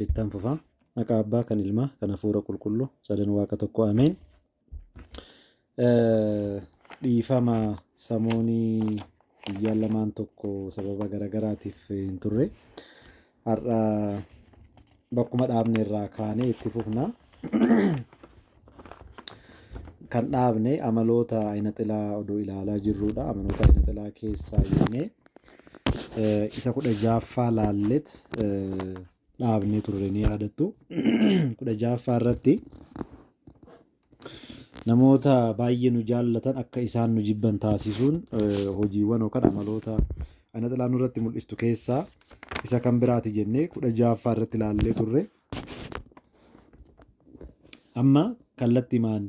Ittan fufa. Maqaa Abbaa, kan Ilmaa, kan Hafuura Qulqulluu, sadan Waaqa tokko Ameen. Dhiifama samoonii guyyaa lamaan tokko sababa garagaraatiif hin turre. Har'a bakkuma dhaabne irraa kaanee itti fufna. kan dhaabne amaloota ayinaxilaa oduu ilaalaa jirruudha. Amaloota ayinaxilaa keessaa yoomee isa kudha jaaffaa laallet dhaabnee turre ni yaadattu. kudha jaaffaa irratti namoota baay'ee nu jaallatan akka isaan nu jibban taasisuun hojiiwwan yookaan amaloota ayinaxilaa nurratti mul'istu keessaa isa kan biraati jennee kudha jaaffaa irratti laallee turre. Amma kallattimaan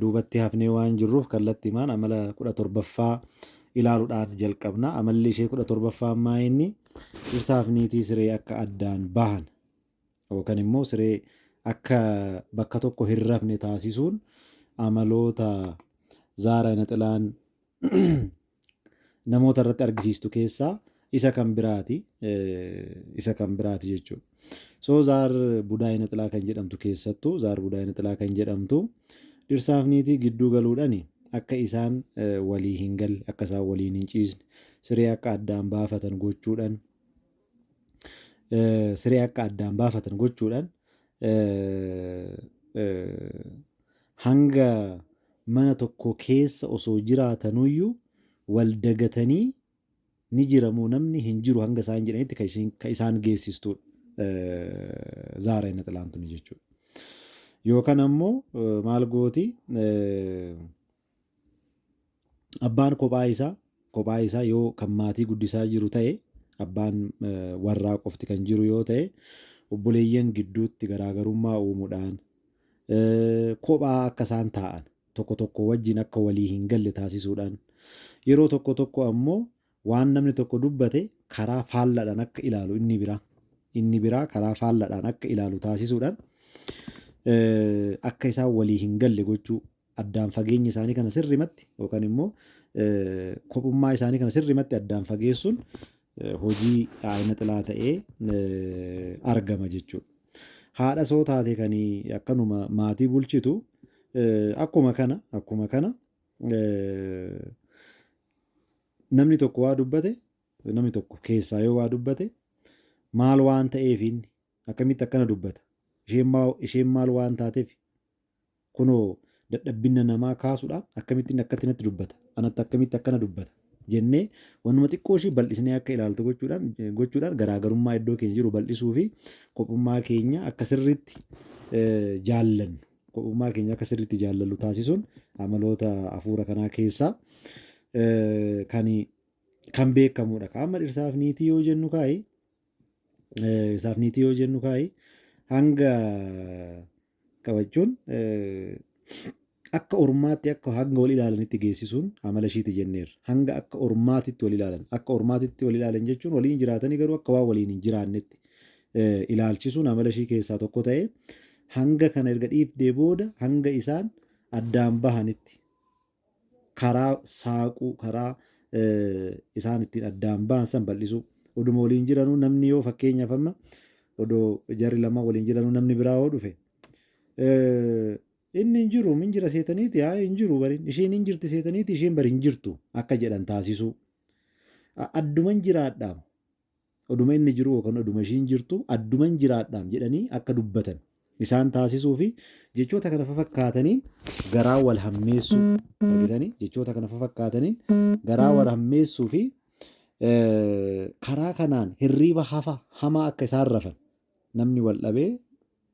duubatti hafnee waan jirruuf kallattimaan amala kudha torbaffaa ilaaluudhaan jalqabna. Amalli ishee kudha torbaffaa ammaa inni dhirsaaf niitii siree akka addaan bahan yookaan immoo siree akka bakka tokko hin rafne taasisuun amaloota zaara naxilaan namoota irratti argisiistu keessaa isa kan biraati isa kan biraati jechuudha. So zaar budaayina xilaa kan jedhamtu keessattuu zaar budaayina xilaa kan jedhamtu dhirsaaf niitii gidduu galuudhani akka isaan walii hin galle akka isaan waliin hin ciisne siree akka addaan baafatan gochuudhan siree akka addaan baafatan gochuudhaan hanga mana tokko keessa osoo jiraatanuyyuu wal dagatanii ni jiramoo namni hin jiru hanga isaan jedhanitti kan isin- kan isaan geessistudha. Zaara inni xilaantuni jechuudha. Yookaan ammoo eh, maal gooti eh, Abbaan kophaa isaa kophaa isaa yoo kan maatii guddisaa jiru ta'e abbaan warraa qofti kan jiru yoo ta'e obboleeyyan gidduutti garaagarummaa uumuudhaan kophaa akka isaan taa'an tokko tokko wajjin akka walii hin galle taasisuudhaan yeroo tokko tokko ammoo waan namni tokko dubbate karaa faalladhaan akka ilaalu inni biraa inni biraa karaa faalladhaan akka ilaalu taasisuudhaan akka isaan walii hin galle gochuu addaan fageenya isaanii kana sirrimatti yookaan immoo kophummaa isaanii kana sirrimatti addaan fageessuun hojii aayina xilaa ta'ee argama jechuudha. Haadha soo taate kan akkanuma maatii bulchitu akkuma kana akkuma kana namni tokko waa dubbate namni tokko keessaa yoo waa dubbate maal waan ta'eef inni akkamitti akkana dubbata isheen maal waan taateef Kunoo dadhabbinna namaa kaasudhaa akkamittin akkatti natti dubbata, anatti akkamitti akkana dubbata jennee wannuma xiqqoo ishii bal'isnee akka ilaaltu gochuudhaan gochuudhaan garaagarummaa iddoo keenya jiru bal'isuu fi kophummaa keenya akka sirriitti jaallannu kophummaa keenya akka sirriitti jaallallu taasisuun amaloota hafuura kanaa keessaa kan kan beekamuudha. Ka amma dhirsaaf niitii yoo jennu kaa'i Eh, Isaaf niitii yoo jennu kaa'i hanga qabachuun eh, akka ormaatti akka hanga wal ilaalanitti geessisuun amala ishiiti jenneerra. Hanga akka ormaatitti wal ilaalan. Akka ormaatitti wal ilaalan jechuun waliin jiraatanii garuu akka waan waliin hin jiraannetti eh, ilaalchisuun amala ishii keessaa tokko ta'ee hanga kana erga dhiifdee booda hanga isaan addaan bahanitti karaa saaquu, karaa isaan ittiin addaan ba'an san bal'isuu. Oduma waliin jiranuu namni yoo fakkeenyaaf amma odoo jarri lamaan waliin jiranuu namni biraa yoo dhufe inni hin jiru hin jira seetaniiti haa hin jiru bariin isheen hin jirti seetaniiti isheen bari hin jirtu akka jedhan taasisuu. Adduman jiraadhaam. Oduma inni jiru yookan oduma ishiin jirtu adduman jiraadhaam jedhanii akka dubbatan isaan taasisuu fi jechoota kana fafakkaataniin garaa wal hammeessuu argitanii jechoota kana fafakkaataniin garaa wal hammeessuu fi karaa kanaan hirriiba hafa hamaa akka isaan rafan namni wal dhabee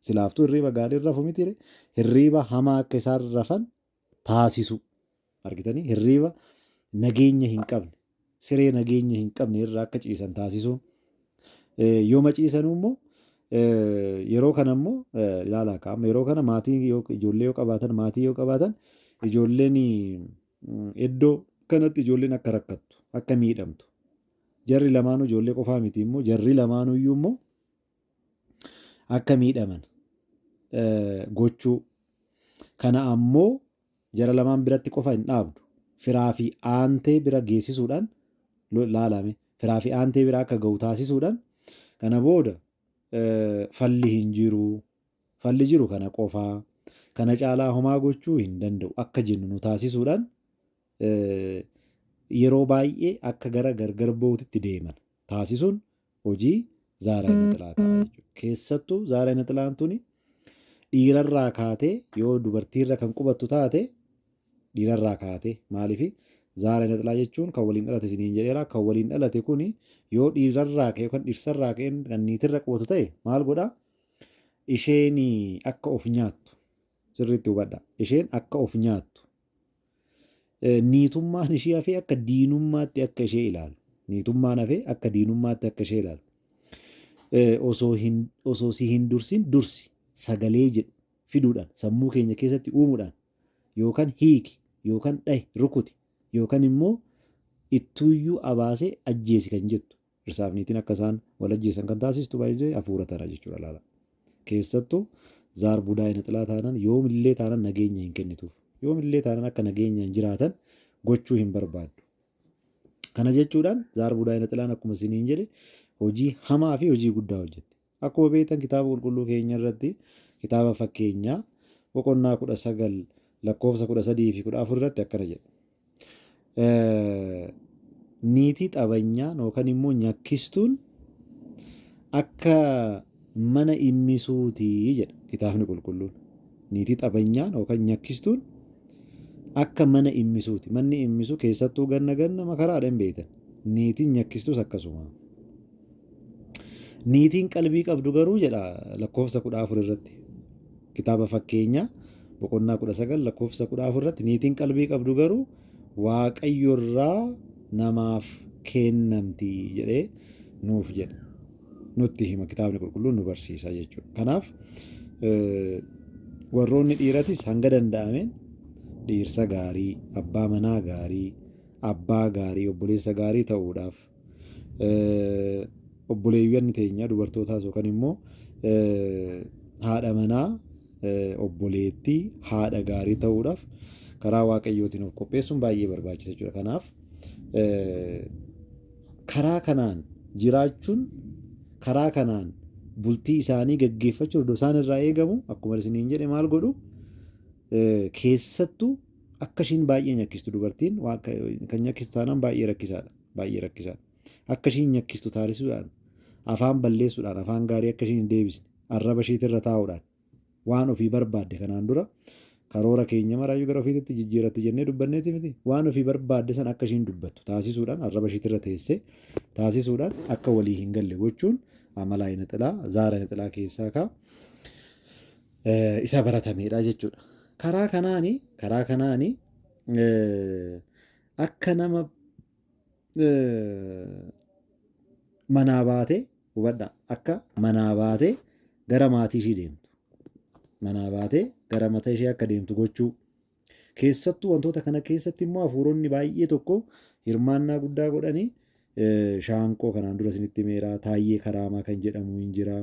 silaaftuu hirriiba gaarii rafu miti hirriiba hamaa akka isaan rafan taasisuu. Argitanii hirriiba nageenya hin qabne siree nageenya hin qabne irra akka ciisan taasisuun yooma ciisanuu immoo yeroo kana immoo ilaala akka amma yeroo kana maatii ijoollee yoo qabaatan maatii yoo qabaatan ijoolleen iddoo kanatti ijoolleen akka rakkattu akka miidhamtu jarri lamaanuu ijoollee qofaa miti immoo jarri lamaanuu iyyuu immoo akka miidhaman gochuu. Kana ammoo jara lamaan biratti qofa hin dhaabdu. Firaa fi aantee bira geessisuudhaan laalame. Firaa fi aantee bira akka ga'u taasisuudhaan kana booda falli hin jiru. Falli jiru kana qofaa. Kana caalaa homaa gochuu hin danda'u akka jennu nu taasisuudhaan yeroo baay'ee akka gara gargar ba'uutitti deeman taasisuun hojii zaaraa inni xilaa ta'a jechuudha. Keessattuu zaaraa inni xilaan tuni dhiirarraa kaatee yoo dubartiirra kan qubattu taate dhiirarraa kaatee maaliif zaaraa inni xilaa jechuun kan waliin dhalate isiniin jedheera kan waliin dhalate kuni yoo dhiirarraa ka'e yookaan dhirsarraa ka'e kan niitirra qubatu ta'e maal godha isheen akka of nyaattu sirriitti hubadha isheen akka of nyaattu Niitummaan ishii hafee akka diinummaatti akka ishee ilaalu. Niitummaan hafee akka diinummaatti akka ishee ilaalu. Osoo si hin dursin dursi sagalee jedhu fiduudhaan sammuu keenya keessatti uumuudhaan yookaan hiiki yookaan dhahi rukuti yookaan immoo ittuuyyuu abaasee ajjeesi kan jettu Dhirsaaf niitiin akka isaan wal ajjeesan kan taasistu baay'ee afuura tana jechuudha laala. Keessattuu zaar budaa inaxilaa taanan yoomillee taanan nageenya hin kennituuf. Yoomillee taanan akka nageenyaan jiraatan gochuu hin barbaaddu. Kana jechuudhaan zaar budaa inaxilaan akkuma isiniin jedhe hojii hamaa fi hojii guddaa hojjetti. Akkuma beektan kitaaba qulqulluu keenya irratti kitaaba fakkeenyaa boqonnaa 19 lakkoofsa 13 fi 14 irratti akkana jedha. Niitii xabanyaan yookaan immoo nyakkistuun akka mana immisuutii jedha kitaabni qulqulluun. Niitii xabanyaan yookaan nyakkistuun akka mana immisuuti. Manni immisu keessattuu ganna ganna makaraadha hin beektan. Niitiin nyakkistuus akkasuma. Niitiin qalbii qabdu garuu jedha lakkoofsa kudha afur irratti kitaaba fakkeenyaa boqonnaa kudha sagal lakkoofsa kudha afur irratti niitiin qalbii qabdu garuu waaqayyo irraa namaaf kennamti jedhee nuuf jedha nutti hima kitaabni qulqulluun nu barsiisa jechuudha. Kanaaf warroonni dhiiratis hanga danda'ameen dhiirsa gaarii, abbaa manaa gaarii, abbaa gaarii, obboleessa gaarii ta'uudhaaf obboleewwan teenya dubartootaas yookaan immoo haadha manaa obboleettii haadha gaarii ta'uudhaaf karaa waaqayyootiin of qopheessuun baay'ee barbaachisa jechuudha. Kanaaf karaa kanaan jiraachuun karaa kanaan bultii isaanii gaggeeffachuun iddoo isaan irraa eegamu akkuma isiniin jedhe maal godhu keessattuu Akka ishiin baay'ee nyakkistu dubartiin waa akka- kan nyakkistu taanaan baay'ee rakkisaadha. Baay'ee rakkisaadha. Akka ishiin nyakkistu taasisuudhaan, afaan balleessuudhaan, afaan gaarii akka ishiin hin deebisne, arraba ishiitirra taa'uudhaan waan ofii barbaadde kanaan dura karoora keenya maraayyuu gara ofiititti jijjiiratti jennee dubbanneeti miti. Waan ofii barbaadde sana akka ishiin dubbattu taasisuudhaan, arraba ishiitirra teessee taasisuudhaan akka walii hin galle gochuun amala ayina xilaa, zaara ayina xilaa keessaa ka'a. isa baratameedha jechuudha. Karaa kanaani karaa kanaani akka nama manaa baate hubadha akka manaa baate gara maatii ishii deemtu manaa baate gara mataa ishee akka deemtu gochuu Keessattuu wantoota kana keessatti immoo hafuuronni baay'ee tokko hirmaannaa guddaa godhanii shaanqoo kanaan dura isinitti himeera taayyee karaamaa kan jedhamu hin jira.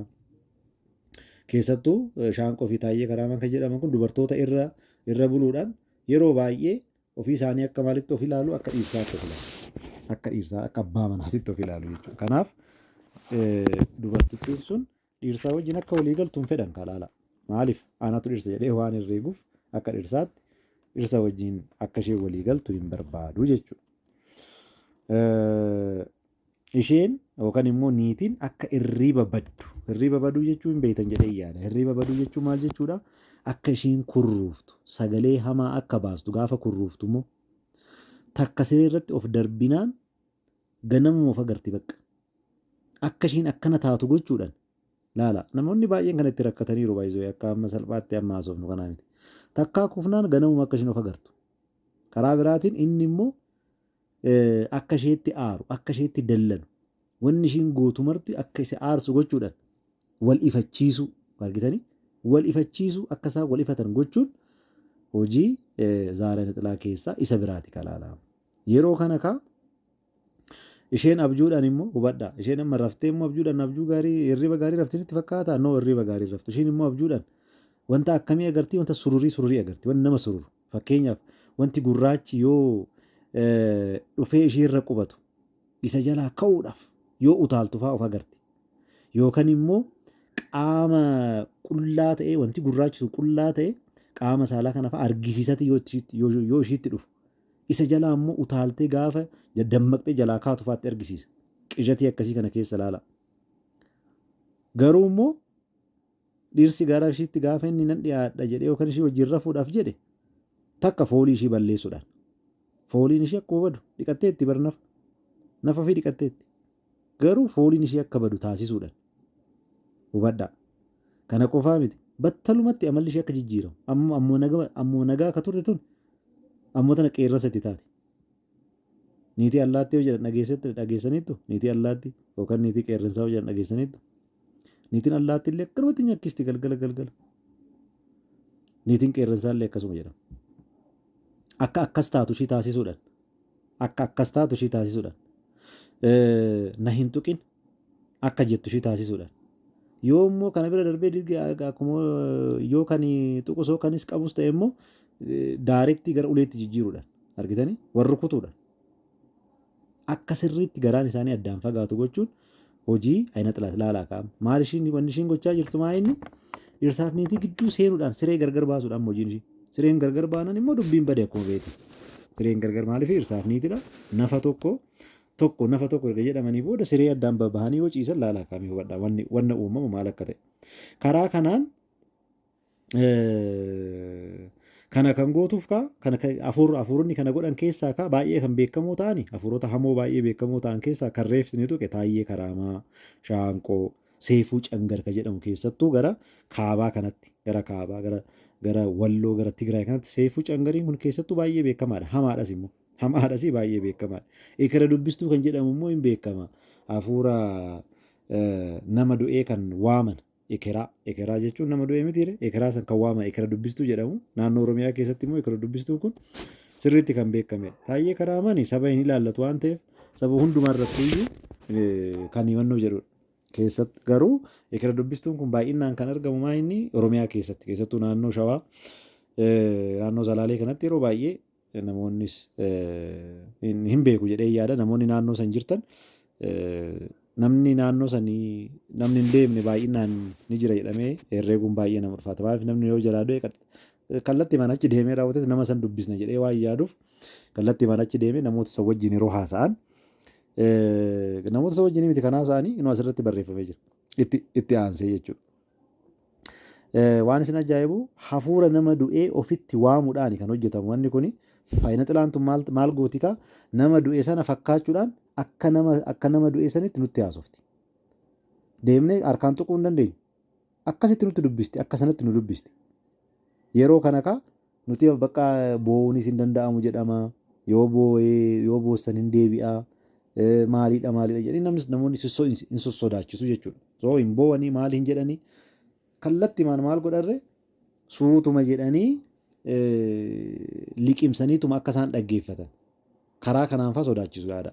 Keessattuu shaanqoo fi taayyee karaamaa kan jedhaman kun dubartoota irra irra buluudhaan yeroo baay'ee ofii isaanii akka maalitti of ilaalu akka dhiirsaatti of ilaalu. Akka dhiirsaa akka abbaa manaatitti of ilaalu jechuudha. Kanaaf dubartittiin sun Dhiirsaa wajjin akka walii galtu hin fedhan kaa laala. Maaliif anatu dhirsa jedhee waan hin reeguuf akka dhirsaatti dhirsa wajjin akka ishee walii galtu hin barbaadu jechuudha. Isheen yookaan immoo niitiin akka irriiba baddu. Irriiba baduu jechuun beektan jedhee yaada. Irriiba baduu jechuun maal jechuudha? Akka isheen kurruuftu sagalee hamaa akka baastu gaafa kurruuftu immoo takka siree irratti of darbinaan ganamuma of agarti bakka. Akka ishiin akkana taatu gochuudhaan laala. Namoonni baay'een kan itti rakkataniiru baay'isoo akka amma salphaatti amma haasofnu kanaa miti. Takkaa kufnaan ganamuma akka ishiin of agartu. Karaa biraatiin inni immoo akka isheetti aaru, akka isheetti dallanu, wanni ishiin gootu marti akka isa aarsu gochuudhaan wal ifachiisuu argitanii wal ifachiisuu akka isaan wal ifatan gochuun hojii zaara nixilaa keessaa isa biraati kalaalaa. Yeroo kana kaa isheen abjuudhaan immoo hubadha. Isheen amma raftee immoo abjuudhaan abjuu gaarii hirriba gaarii raftiin itti fakkaata. Noo hirriba gaarii raftu. Isheen immoo abjuudhaan wanta akkamii agartii wanta sururii sururii agarti. Wanti nama sururu. Fakkeenyaaf wanti gurraachi yoo dhufee ishee irra qubatu isa jalaa ka'uudhaaf yoo utaaltu fa'aa of agarti. Yookaan immoo qaama qullaa ta'ee wanti gurraachi sun qullaa ta'ee qaama saalaa kana fa'aa argisiisati yoo ishiitti dhufu Isa jalaa immoo utaaltee gaafa dammaqxee jalaa kaatu faatti argisiisa. Qijatii akkasii kana keessa laala. Garuu immoo dhirsi gara ishiitti gaafa inni nan dhiyaadha jedhee yookaan ishii wajjin rafuudhaaf jedhe takka foolii ishii balleessuudhaan. Fooliin ishii akkuma badu dhiqatteetti bar nafa. Nafa fi dhiqatteetti. Garuu fooliin ishii akka badu taasisuudhan. Hubadhaa. Kana qofaa miti. Battalumatti amalli ishii akka jijjiiramu. Amma ammuma naga ammuma nagaa akka turte tun ammuma tana qeerransa itti taate. Niitii allaattii yoo jedhan dhageessatti dhageessaniittu niitii allaattii yookaan niitii qeerransaa yoo jedhan dhageessaniittu. Niitiin allaattii illee akkanumatti nyakkisti galgala galgala. Niitiin qeerransaa illee akkasuma jedhama. Akka akkas taatu ishii taasisuudhan. Akka akkas taatu ishii taasisuudhaan. Na hin tuqin akka jettu ishii taasisuudhaan. Yoo immoo kana bira darbee dirgi akkuma yoo kan tuqus yoo kanis qabus ta'e immoo daarektii gara uleetti jijjiiruudhaan argitanii warri kutuudhaan. Akka sirriitti garaan isaanii addaan fagaatu gochuun Hojii ayina xilaat laalaa kaam. Maal ishiin wanni ishiin gochaa jirtu maa inni dhirsaaf niitii gidduu seenuudhaan siree gargar baasuudhaan immoo hojiin ishii. Sireen gargar baanan immoo dubbiin bade akkuma beeku. Sireen gargar maaliif dhirsaaf niitidha. Nafa tokko tokko nafa tokko erga jedhamanii booda siree addaan babahanii yoo ciisan laalaa kaamii hubadha wanni wanna uumama maal akka ta'e. Karaa kanaan Kana kan gootuuf kaa kana afuuronni kana godhan keessaa kaa baay'ee kan beekamoo ta'ani afuurota hamoo baay'ee beekamoo ta'an keessaa kan reefsi ni tuqe taayyee karaamaa shaanqoo seefuu cangar ka jedhamu keessattuu gara kaabaa kanatti gara kaabaa gara gara walloo gara tigraay kanatti seefuu cangariin kun keessattuu baay'ee beekamaadha hamaadhas immoo hamaadhas baay'ee beekamaadha ikira dubbistuu kan jedhamu immoo hin beekama afuura nama du'ee kan waaman Ekeraa. Ekeraa jechuun nama du'e mitiire ekeraa san kan waama ekera dubbistuu jedhamu naannoo Oromiyaa keessatti immoo ekera dubbistuu kun sirriitti kan beekame. Taayyee Karaamani saba hin ilaallatu waan ta'eef saba hundumaa irratti iyyuu kan himannoo jedhudha. Keessatti garuu ekera dubbistuun kun baay'inaan kan argamu maa inni Oromiyaa keessatti keessattuu naannoo Shawaa naannoo Salaalee kanatti yeroo baay'ee Namoonnis hin beeku jedhee yaada. Namoonni naannoo san jirtan namni naannoo sanii namni hin beekne baay'inaan ni jira jedhamee herreeguun baay'ee nama ulfaata. Maaliif namni yoo jalaa du'e kallatti mana achi deemee raawwates nama san dubbisna jedhee waan yaaduuf kallatti mana achi deemee namoota san wajjin yeroo haasa'an namoota san wajjin miti kan haasa'anii inuu asirratti barreeffamee jira. Itti aansee jechuudha. Waan isin ajaa'ibu hafuura nama du'ee ofitti waamuudhaan kan hojjetamu wanni kun faayina xilaan tun maal, maal gooti kaa nama du'e sana fakkaachuudhaan akka nama, akka nama du'e sanitti nutti haasofti. Deemnee harkaan tuquu hin dandeenyu. Akkasitti nutti dubbisti, akka sanatti nu dubbisti. Yeroo kana kaa Nuti bakka boo'uunis hin danda'amu jedhama. Yoo boo'ee yoo boossan hin deebi'a. Maaliidha maaliidha jedhanii namnis namoonni hin sossodaachisu jechuudha. Soo hin boo'anii maali hin jedhanii kallattimaan maal godharre suutuma jedhanii liqimsaniituma akka isaan dhaggeeffatan karaa kanaan fa'aa sodaachisu yaada.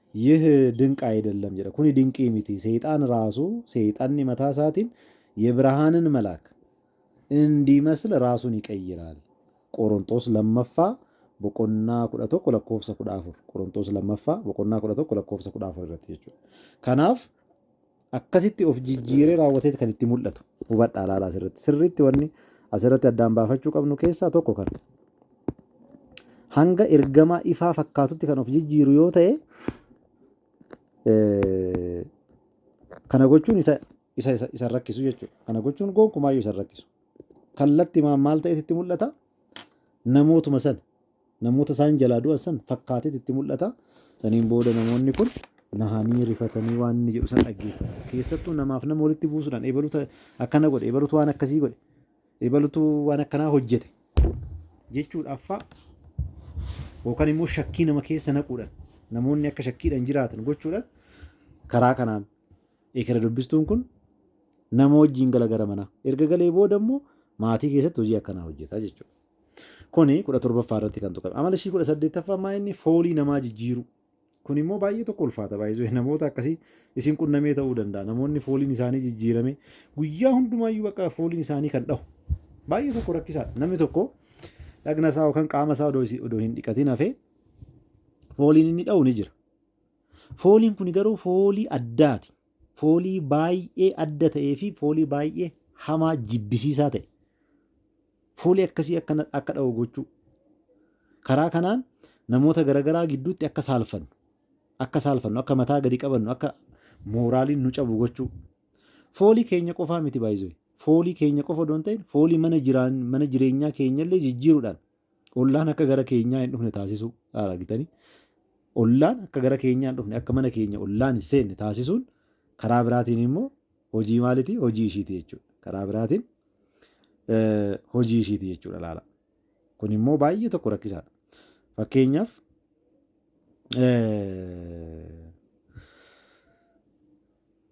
Yih dinq ayidellam jedha. Kuni dinqii miti. Seexaan raasu, seexanni mataa isaatiin yebrahaanin malaak indiimasl raasuun iqayyiraal. Qoronxoos lammaffaa boqonnaa 11 lakkoofsa 14. Qoronxoos lammaffaa boqonnaa 11 lakkoofsa 14 irratti jechuudha. Kanaaf akkasitti of jijjiiree raawwateet kan itti mul'atu hubadhaa laala asirratti sirriitti wanni asirratti addaan baafachuu qabnu keessaa tokko kan hanga ergamaa ifaa fakkaatutti kan of jijjiiru yoo ta'e kana gochuun isa isa isa rakkisu jechuudha kana gochuun gonkumaayyuu isa rakkisu kallatti maal ta'eet itti mul'ata namootuma sana Namoota isaan jalaa du'an san fakkaateet itti mul'ata. Saniin booda namoonni kun nahanii rifatanii waan inni jedhu san dhaggeeffatan. Keessattuu namaaf nama walitti buusuudhaan eebaluuta akkana godhe, eebaluutu waan akkasii godhe, eebaluutu waan akkanaa hojjete jechuudhaaf fa'a yookaan immoo shakkii nama keessa naquudhaan namoonni akka shakkiidhaan jiraatan gochuudhaan karaa kanaan eekera dubbistuun kun nama wajjin gala gara manaa. Erga galee booda immoo maatii keessatti hojii akkanaa hojjeta jechuudha. Kuni kudha torbaffaa irratti kan tuqame. Amala ishii kudha saddeettaffaa maa inni foolii namaa jijjiiru. Kun immoo baay'ee tokko ulfaata baay'isuu namoota akkasii isin qunnamee ta'uu danda'a. Namoonni fooliin isaanii jijjiirame guyyaa hundumaayyuu bakka fooliin isaanii kan dhahu. Baay'ee tokko rakkisaadha. Namni tokko dhagna isaa yookaan qaama isaa odoo isi- odoo hin dhiqatin hafee fooliin inni dhahu ni jira. Fooliin kun garuu foolii addaati. foolii baay'ee adda ta'ee fi foolii baay'ee hamaa jibbisiisaa ta'e foolii akkasii akka na- akka dha'u gochuu karaa kanaan namoota garaagaraa gidduutti akka saalfannu akka saalfannu akka mataa gadi qabannu akka mooraaliin nu cabu gochuu foolii keenya qofaa miti baay'isuu foolii keenya qofa odoo hin ta'in foolii mana jiraan mana jireenyaa keenyallee jijjiiruudhaan Ollaan akka gara keenyaa hin dhufne taasisuu argitanii ollaan akka gara keenyaa hin dhufne akka mana keenya ollaan hin seenne taasisuun karaa biraatiin immoo hojii maalitii hojii ishiiti jechuudha. Karaa biraatiin hojii ishiiti jechuudha laala. Kun immoo baay'ee tokko rakkisaadha. Fakkeenyaaf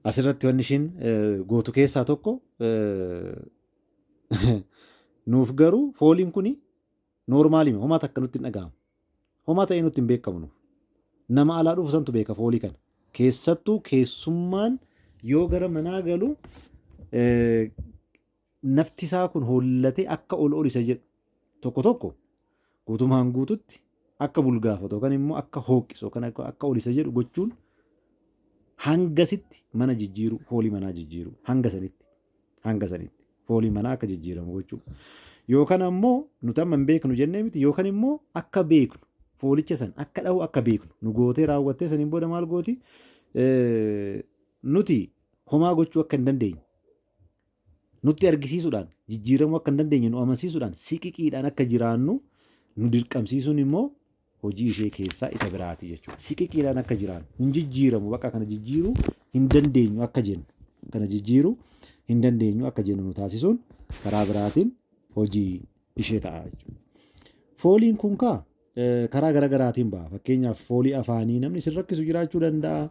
asirratti wanni ishiin gootu keessaa tokko Nuuf garuu fooliin kuni noormaalima homaa takka nutti hin dhaga'amu. Homaa ta'ee nutti hin beekamu nuuf. Nama alaa dhufu santu beeka foolii kana. Keessattuu keessummaan yoo gara manaa galu nafti isaa kun hoollatee akka ol ol isa jedhu tokko tokko guutumaan guututti akka bulgaafatu yookaan immoo akka hookkisu yookaan akka ol isa jedhu gochuun hangasitti mana jijjiiruu foolii manaa jijjiiruu hanga sanitti hanga sanitti foolii manaa akka jijjiiramu gochuu yookaan ammoo nuti amma hin beeknu jennee miti yookaan immoo akka beeknu foolicha san akka dhahu akka beeknu nu gootee raawwattee saniin booda maal gooti nuti homaa gochuu akka hin dandeenye nutti argisiisuudhaan jijjiiramuu akka hin dandeenye nu amansiisuudhaan siqiqiidhaan akka jiraannu nu dirqamsiisuun immoo hojii ishee keessaa isa biraati jechuudha. Siqiqiidhaan akka jiraannu hin jijjiiramu bakka kana jijjiiruu hin dandeenyu akka jennu kana jijjiiruu hin dandeenyu akka jennu nu taasisuun karaa biraatiin hojii ishee ta'a jechuudha. Fooliin kun kaa karaa gara garaatiin ba'a. Fakkeenyaaf foolii afaanii namni isin rakkisu jiraachuu danda'a.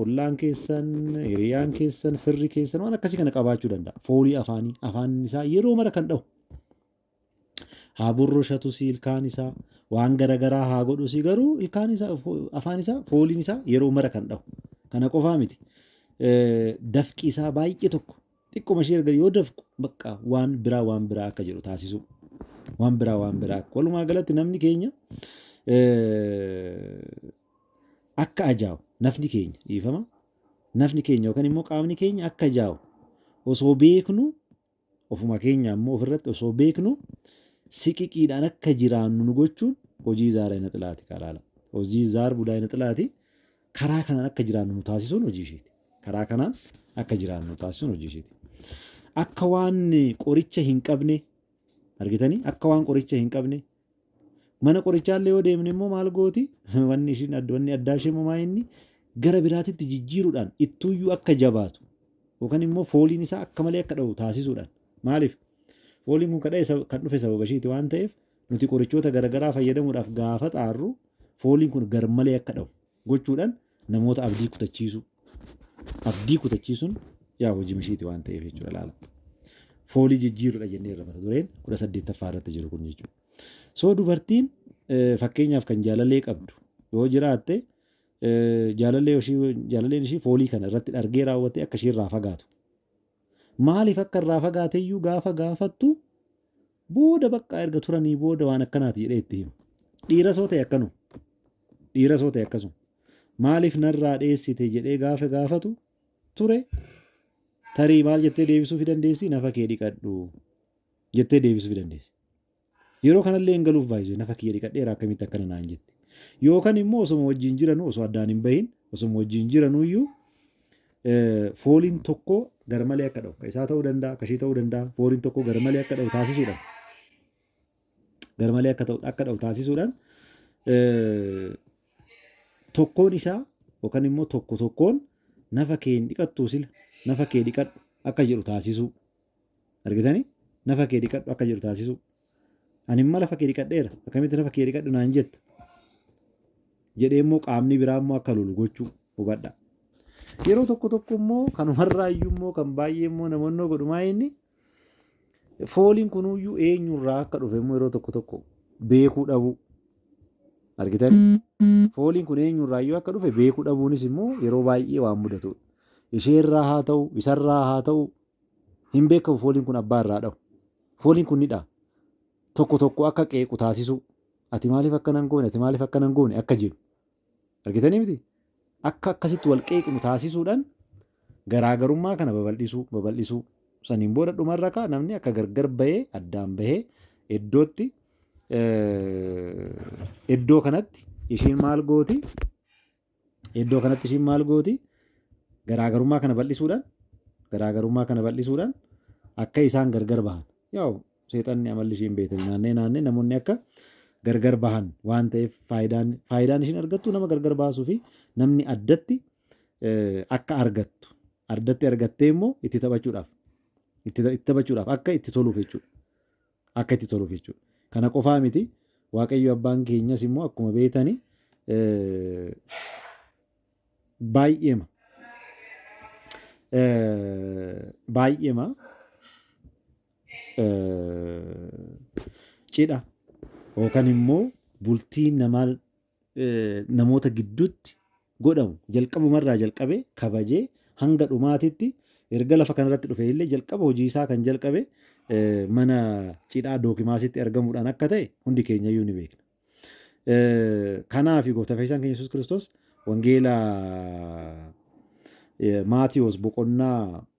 Ollaan keessan, hiriyaan keessan, firri keessan waan akkasii kana qabaachuu danda'a. Foolii afaanii afaan isaa yeroo mara kan dhahu. Haa burrushatus ilkaan isaa waan gara garaa haa godhus garuu ilkaan isaa afaan isaa fooliin isaa yeroo mara kan dhahu. Kana qofaa miti. Dafqi isaa baay'ee tokko Xiqquma ishee erga yoo dafqu bakka waan biraa waan biraa akka jedhu taasisuu. Waan biraa waan biraa akka. Walumaa galatti namni keenya akka ajaa'u nafni keenya dhiifama. Nafni keenya yookaan immoo qaamni keenya akka ajaa'u osoo beeknu ofuma keenya ammoo ofirratti osoo beeknu siqiqiidhaan akka jiraannu nu gochuun hojii zaara hin xilaati kaalaala. Hojii zaar budaa hin xilaati. Karaa kanaan akka jiraannu nu taasisuun hojii isheeti. Karaa kanaan akka jiraannu nu taasisuun hojii isheeti. Akka waan qoricha hin qabne argitanii akka waan qoricha hin qabne mana qorichaallee yoo deemne immoo maal gooti wanni ishiin adda wanni addaa ishee immoo maa inni gara biraatitti jijjiiruudhaan ittuuyyuu akka jabaatu yookaan immoo fooliin isaa akka malee akka dha'u taasisuudhaan maaliif fooliin kun kadha'e sab- kan dhufe sababa ishiiti waan ta'eef Nuti qorichoota garagaraa fayyadamuudhaaf gaafa xaarru fooliin kun garmalee akka dhahu gochuudhaan namoota abdii kutachiisuu abdii kutachiisuun yaa hojii mishiiti waan ta'eef jechuudha laala. Foolii jijjiirudha jennee irra mata dureen kudha saddeettaffaa irratti jiru kun jechuudha. So dubartiin fakkeenyaaf kan jaalalee qabdu yoo jiraatte jaalalee ishii jaalaleen ishii foolii kana irratti dhargee raawwattee akka ishii irraa fagaatu. Maaliif akka irraa fagaateyyuu gaafa gaafattu Booda baqqaa erga turanii booda waan akkanaati jedhee itti hima. Dhiira soo ta'e akkanu. Dhiira soo ta'e akkasuma. Maaliif narraa dheessite jedhee gaafa gaafatu ture tarii maal jettee deebisuufi dandeessi nafa kee dhiqadhu jettee deebisuufi dandeessi. Yeroo kanallee hin galuuf baay'isuu nafa kiyya dhiqadheera akkamitti akkana naan jette. Yookaan immoo osuma wajjin jiranu osoo addaan hin bahin osuma wajjin jiranu iyyuu fooliin tokko garmalee akka dha'u. Ka isaa ta'uu danda'a, ka ishii ta'uu danda'a. Fooliin tokko garmalee akka dha'u taasisuudhaan garmalee akka ta'u akka dha'u taasisuudhaan tokkoon isaa yookaan immoo tokko tokkoon nafa kee hin dhiqattuu sila nafa kee dhiqadhu akka jedhu taasisuu. Argitanii? Nafa kee dhiqadhu akka jedhu taasisuu. Ani immoo lafa kee dhiqadheera. Akkamitti nafa kee dhiqadhu naan jetta? Jedhee immoo qaamni biraa immoo akka lolu gochuu hubadha. Yeroo tokko tokko immoo kanumarraa iyyuu immoo kan baay'ee immoo namoonni godhumaa inni fooliin kunuyyuu eenyurraa akka dhufe immoo yeroo tokko tokko beekuu dhabuu. Argitan fooliin kun eenyurraa iyyuu akka dhufe beekuu dhabuunis immoo yeroo baay'ee waan mudatudha. Isheerraa haa ta'u, isarraa haa ta'u, Hin beekamu fooliin kun abbaa irraa dhahu. Fooliin kun ni dhaha. Tokko tokko akka qeequ taasisuu. Ati maaliif akkana hin goone, ati maaliif akkana hin goone akka jedhu. Argitanii miti? Akka akkasitti wal qeeqnu taasisuudhaan garaagarummaa kana babal'isuu, babal'isuu. Saniin booda dhumarra kaa namni akka gargar bahee addaan bahee iddootti iddoo kanatti ishiin maal gooti? Iddoo kanatti ishiin maal gooti? Garaagarummaa kana bal'isuudhaan garaagarummaa kana bal'isuudhaan akka isaan gargar bahan. Yaa'u seexanni amalli ishiin beektan naannee naannee namoonni akka gargar bahan waan ta'eef faayidaan faayidaan ishiin argattu nama gargar baasuu fi namni addatti akka argattu addatti argattee immoo itti taphachuudhaaf itti taphachuudhaaf akka itti toluuf jechuudha. Akka itti toluuf jechuudha. Kana qofaa miti Waaqayyo abbaan keenyas immoo akkuma beektani baay'eema baay'eema cidha yookaan immoo bultii namaa namoota gidduutti godhamu jalqabuma irraa jalqabee kabajee hanga dhumaatitti erga lafa kanarratti dhufe illee jalqaba hojii isaa kan jalqabe mana cidhaa dookimaasitti argamuudhaan akka ta'e hundi keenya iyyuu ni beekna. Kanaaf gooftaa fayyisaan keenya Yesuus Kiristoos wangeela Maatiyoos boqonnaa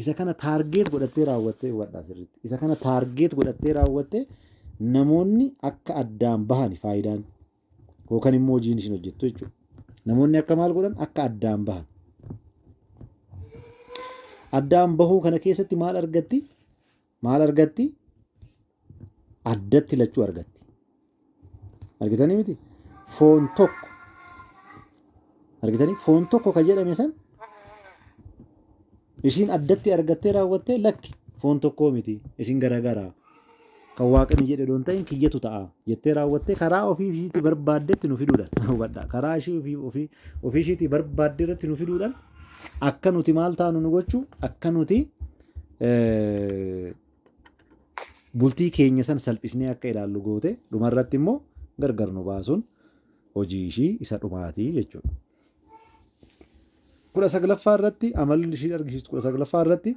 Isa kana taargeet godhattee raawwattee hubadhaa sirriitti. Isa kana taargeet godhattee raawwattee namoonni akka addaan bahan faayidaan yookaan immoo hojiin isin hojjettu jechuudha. Namoonni akka maal godhan akka addaan bahan. Addaan bahuu kana keessatti maal argatti? maal argatti? Addatti lachuu argatti. Argitanii miti? Foon tokko. Argitanii? Foon tokko kan jedhame san ishiin addatti argattee raawwattee lakki foon tokkoo miti isin garagaraa kan waaqni jedhe doon ta'in kiyyatu ta'a jettee raawwattee karaa ofii ishiitti barbaaddetti nu fiduudhaan hubadha karaa ishii ofii ofii ofii ishiitti barbaadde irratti nu fiduudhaan akka nuti maal taanu nu gochuu akka nuti bultii keenya san salphisnee akka ilaallu goote dhumarratti immoo gargar nu baasuun hojii ishii isa dhumaati jechuudha. Kudha saglaffaa irratti amalli ishii argisiistu kudha saglaffaa irratti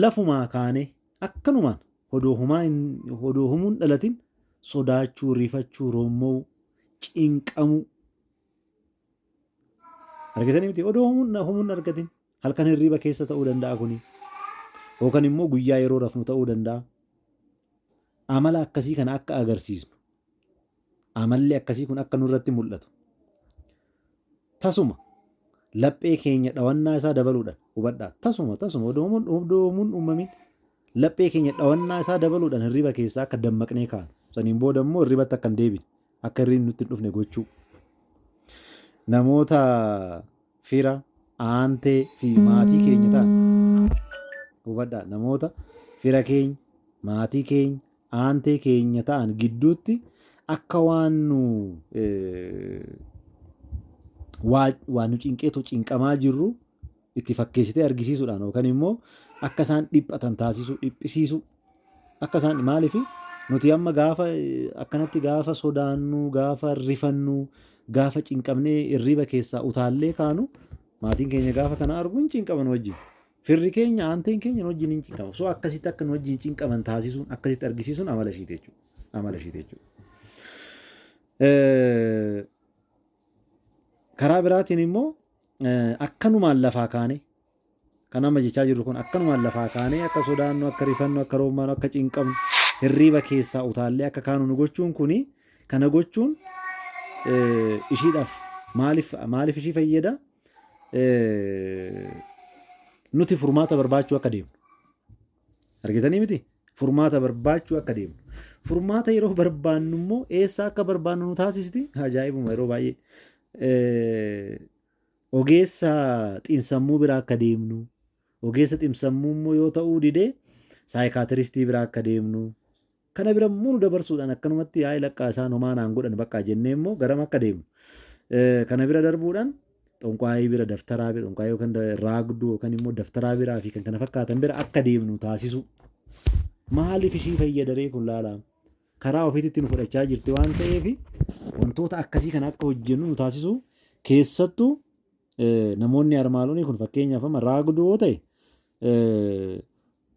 lafumaa kaanee akkanumaan odoo humaa odoo humuun dhalatin sodaachuu, rifachuu, roommoo, cinqamuu argitanii miti odoo humuun humuun argatin Halkan hirriiba keessa ta'uu danda'a kuni. Yookaan immoo guyyaa yeroo rafnu ta'uu danda'a. Amala akkasii kana akka agarsiisnu. Amalli akkasii kun akka nurratti mul'atu. Tasuma laphee keenya dhawannaa isaa dabaluudhaan hubadhaa. Tasuma tasuma odoomuun odoomuun uumamin laphee keenya dhawannaa isaa dabaluudhaan hirriba keessaa akka dammaqnee kaanu. Saniin booda immoo hirribatti akka hin deebine akka hirribni nutti hin dhufne gochuu. Namoota fira, aantee fi maatii keenya ta'an. Hubadhaa, namoota fira keenya, maatii keenya, aantee keenya ta'an gidduutti akka waan nu waan nu cinqeetu cinqamaa jirru itti fakkeessitee argisiisuudhaan yookaan immoo akka isaan dhiphatan taasisuu, dhiphisiisuu, Akka isaan maaliif nuti amma gaafa akkanatti gaafa sodaannu gaafa rifannu gaafa cinqamnee irriba keessaa utaallee kaanu maatiin keenya gaafa kana argu hin cinqaman wajjin. Firri keenya aanteen keenya nu wajjin hin cinqamu. So akkasitti akka nu wajjin cinqaman taasisuun akkasitti argisiisuun amala ishiiti jechuudha. Amala ishiiti jechuudha. Karaa biraatiin immoo akkanumaan lafaa kaanee kan amma jechaa jirru kun akkanumaan lafaa kaanee akka sodaannu, akka rifannu, akka roommaanu, akka cinqamnu, hirriiba keessaa utaallee akka kaanu nu gochuun kuni kana gochuun ishiidhaaf maaliif maaliif ishii fayyada? Nuti furmaata barbaachuu akka deemnu. Argitanii miti? Furmaata barbaachuu akka deemnu. Furmaata yeroo barbaannu immoo eessaa akka barbaannu nu taasisti? Ajaa'ibuma yeroo baay'ee. Eh, Ogeessa xinsammuu biraa akka deemnu, ogeessa xinsammuu immoo yoo ta'uu didee saayikaatiristii biraa akka deemnu, Kana bira immoo nu dabarsuudhaan akkanumatti yaa'ii laqqaa isaan homaa naan godhan baqqaa jennee immoo garam akka deemnu. Kana bira darbuudhaan xonqaayii bira daftaraa bira xonqaayii yookaan raagduu yookaan immoo daftaraa biraa fi kan kana fakkaatan bira akka deemnu taasisu. Maaliif ishii fayyadaree kun laalaa? Karaa ofiitti nu fudhachaa jirti waan ta'eef wantoota akkasii kana akka hojjennu nu taasisu keessattuu namoonni armaalonii kun fakkeenyaaf amma raagduu yoo ta'e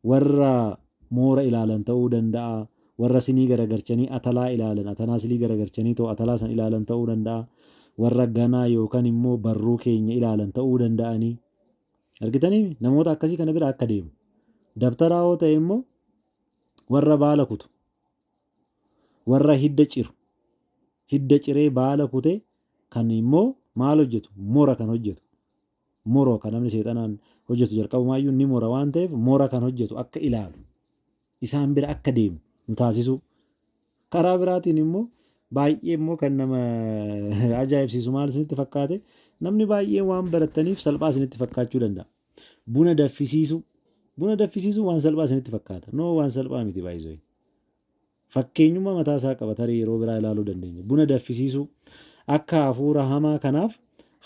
warra moora ilaalan ta'uu danda'a, warra sinii garagarchanii atalaa ilaalan, atanaa silii garagarchanii too atalaa san ilaalan ta'uu danda'a, warra ganaa yookan immoo barruu keenya ilaalan ta'uu danda'anii. Argitanii namoota akkasii kana bira akka deemu. Dabtaraa yoo ta'e immoo warra baala kutu, warra hidda ciru, hidda ciree baala kutee kan immoo maal hojjetu mora kan hojjetu. Moro ka namni seexanaan hojjetu jalqabumaayyuu ni mora waan ta'eef mora kan hojjetu akka ilaalu, isaan bira akka deemu nu taasisuu. Karaa biraatiin immoo baay'ee immoo kan nama ajaa'ibsiisu maal isinitti fakkaate namni baay'een waan barattaniif salphaa isinitti fakkaachuu danda'a. Buna daffisiisuu. Buna daffisiisuu waan salphaa isinitti fakkaata. Noo waan salphaa miti baay'isuu. Fakkeenyummaa mataa isaa qaba tarii yeroo biraa ilaaluu dandeenya. Buna daffisiisuu, akka hafuura hamaa kanaaf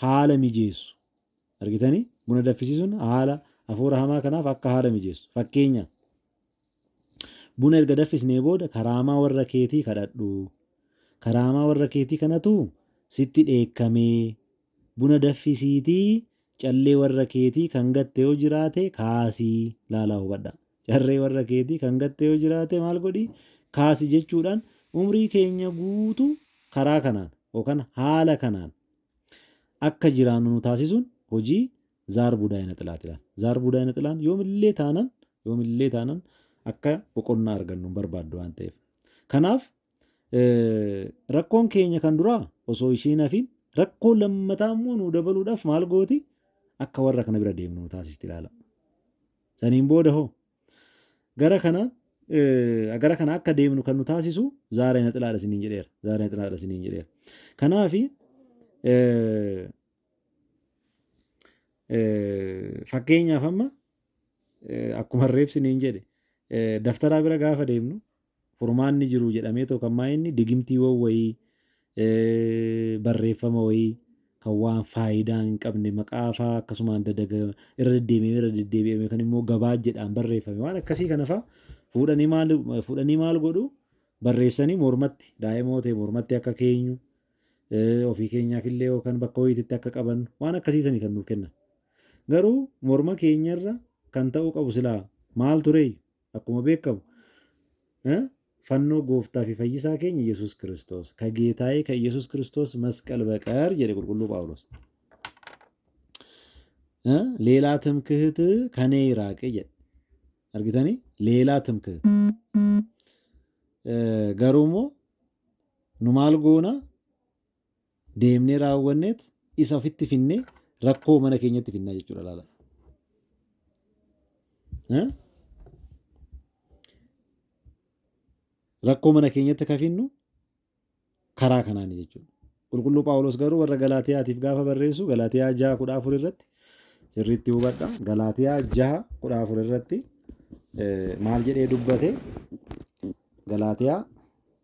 haala mijeessu. Argitanii? Buna daffisiisuun haala hafuura hamaa kanaaf akka haala mijeessu. Fakkeenya buna erga daffisnee booda karaamaa warra keetii kadhadhu. Karaamaa warra keetii kanatu sitti dheekkamee Buna daffisiitii callee warra keetii kan gatte yoo jiraate kaasii laalaa hubadhaa. Carree warra keetii kan gatte yoo jiraate maal godhii kaasi jechuudhaan umrii keenya guutu karaa kanaan yookan haala kanaan akka jiraannu nu taasisuun hojii zaar budaa ina xilaat ilaal. Zaar budaa ina xilaan yoomillee taanan yoomillee taanan akka boqonnaa argannu hin barbaaddu waan ta'eef. Kanaaf Rakkoon keenya kan duraa osoo ishii hin hafiin rakkoo lammataa immoo nuu dabaluudhaaf maal gooti akka warra kana bira deemnu nu taasisti ilaala. Saniin booda hoo gara kana gara kana akka deemnu kan nu taasisu zaara hin haxilaadha isiniin jedheera. Zaara hin haxilaadha isiniin jedheera. Kanaafi fakkeenyaaf amma akkuma reebsi niin jedhe daftaraa bira gaafa deemnu Furmaanni jiru jedhameetoo kan maayinni digimtiiwwan wayii barreeffama wayii kan waan faayidaa hin qabne maqaa faa akkasumaan dadaga irra deddeebi'amee irra deddeebi'amee kan immoo gabaa jedhaan barreeffame waan akkasii kana faa fuudhanii maal fuudhanii maal godhu barreessanii mormatti daa'imoo ta'e mormatti akka keenyu ofii keenyaaf illee yookaan bakka wayiititti akka qabannu waan akkasii sanii kan nuuf kennan garuu morma keenyarra kan ta'uu qabu silaa maal turee Akkuma beekamu fannoo gooftaa fi fayyisaa keenya Yesuus Kiristoos ka geetaa'ee ka Yesuus Kiristoos masqal baqar jedhe qulqulluu Phaawulos. Leelaa timkihit kanee iraaqe jedhe. Argitanii? Leelaa timkihit. Garuu immoo nu maal goona? deemnee raawwanneet isa ofitti finnee rakkoo mana keenyatti finnaa jechuudha laala. Eh? Rakkoo mana keenyatti akka finnu karaa kanaani jechuudha. Qulqulluu Phaawulos garuu warra Galaatiyaatiif gaafa barreessu Galaatiyaa jaha kudha afur irratti sirriitti hubadha. Galaatiyaa jaha kudha afur irratti eh, maal jedhee dubbate? Galaatiyaa